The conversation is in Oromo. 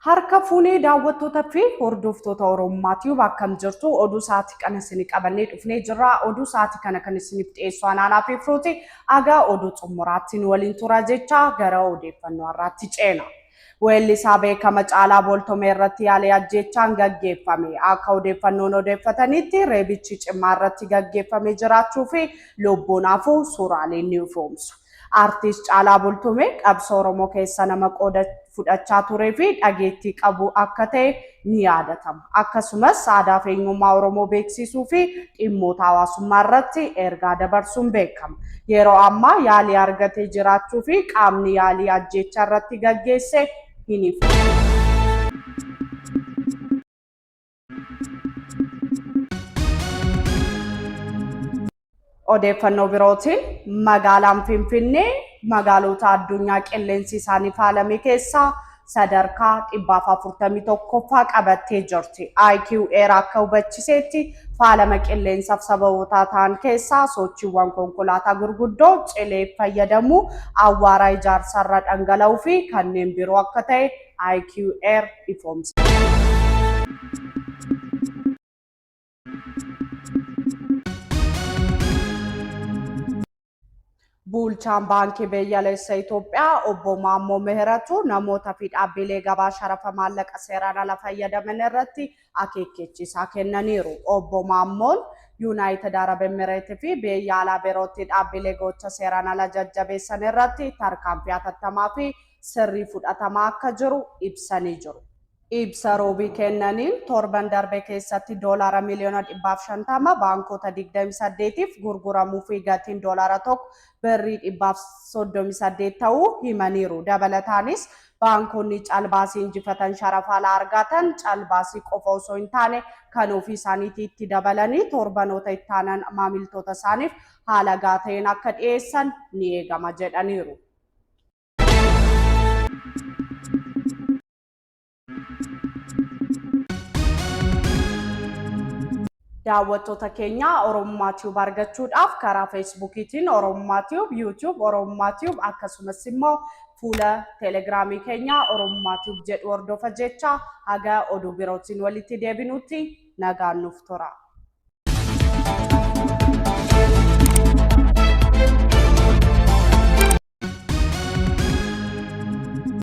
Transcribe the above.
Harka fuunee daawwattoota fi hordoftoota Oromummaa Tiyuub akkam jirtu oduu sa'aatii kana isinii qabannee dhufnee jirra. Oduu sa'aatii kana kan isiniif dhiyeessu anaanaa fi firooti. Agaa oduu xumuraatti nu waliin tura jecha gara odeeffannoo har'aatti ceena. Weellisaa beekama Caalaa Booltomee irratti yaalii ajjeechaan gaggeeffame. Akka odeeffannoon odeeffataniitti reebichi cimaa irratti gaggeeffame jiraachuu fi lubbuun hafuu suuraaleen ni ifoomsu. Artiist Caalaa Bultumee qabsoo Oromoo keessa nama qooda fudhachaa turee fi dhageettii qabu akka ta'e ni yaadatama. Akkasumas aadaa fi eenyummaa Oromoo beeksisuu fi dhimmoota hawaasummaa irratti ergaa dabarsuun beekama. Yeroo ammaa yaalii argatee jiraachuu fi qaamni yaalii ajjeechaa irratti gaggeesse hin ifoomne. Odeeffannoo birootiin magaalaan Finfinnee magaalota addunyaa qilleensi isaanii faalame keessaa sadarkaa 441ffaa qabattee jirti. IQ Air akka hubachiseetti faalama qilleensaaf sababootaa ta'an keessaa sochiiwwan konkolaataa gurguddoo cilee fayyadamuu, awwaaraa ijaarsarra dhangala'uu fi kanneen biroo akka ta'e IQ Air ifoomse. Bulchaan Baankii Biyyaalessa Itoophiyaa obbo Maammoo Mihiratu namoota fi dhaabbilee gabaa sharafa maallaqa seeraan ala fayyadaman irratti akeekkachiisaa kennaniiru. Obbo Maammoon Yuunaayitid Arab Emireet fi biyya alaa birootti dhaabbilee gocha seeraan ala jajjabeessan irratti tarkaanfii hatattamaa fi sirrii fudhatamaa akka jiru ibsanii jiru. Ibsa Roobii kennaniin, torban darbe keessatti doolaara miliyoona 150 baankota 28'f gurguramuu fi gatiin doolaara tokko birrii 138 ta'uu himaniiru. Dabalataanis, baankonni calbaasii injifatan sharafa alaa argaatan calbaasii qofa osoo hin taane kan ofii isaaniitii itti dabalanii torbanoota itti aanan maamiltoota isaaniif haala gahaa ta'een akka dhiyeessan ni eegama jedhaniiru. Daawwattoota keenya Oromummaa Tube argachuudhaaf karaa Feesbuukiitiin Oromummaa Tube, YouTube Oromummaa Tube akkasumas immoo fuula Teelegiraamii keenya Oromummaa Tube jedhu hordofa jecha haga oduu birootiin walitti deebinutti nagaan nuuf tura.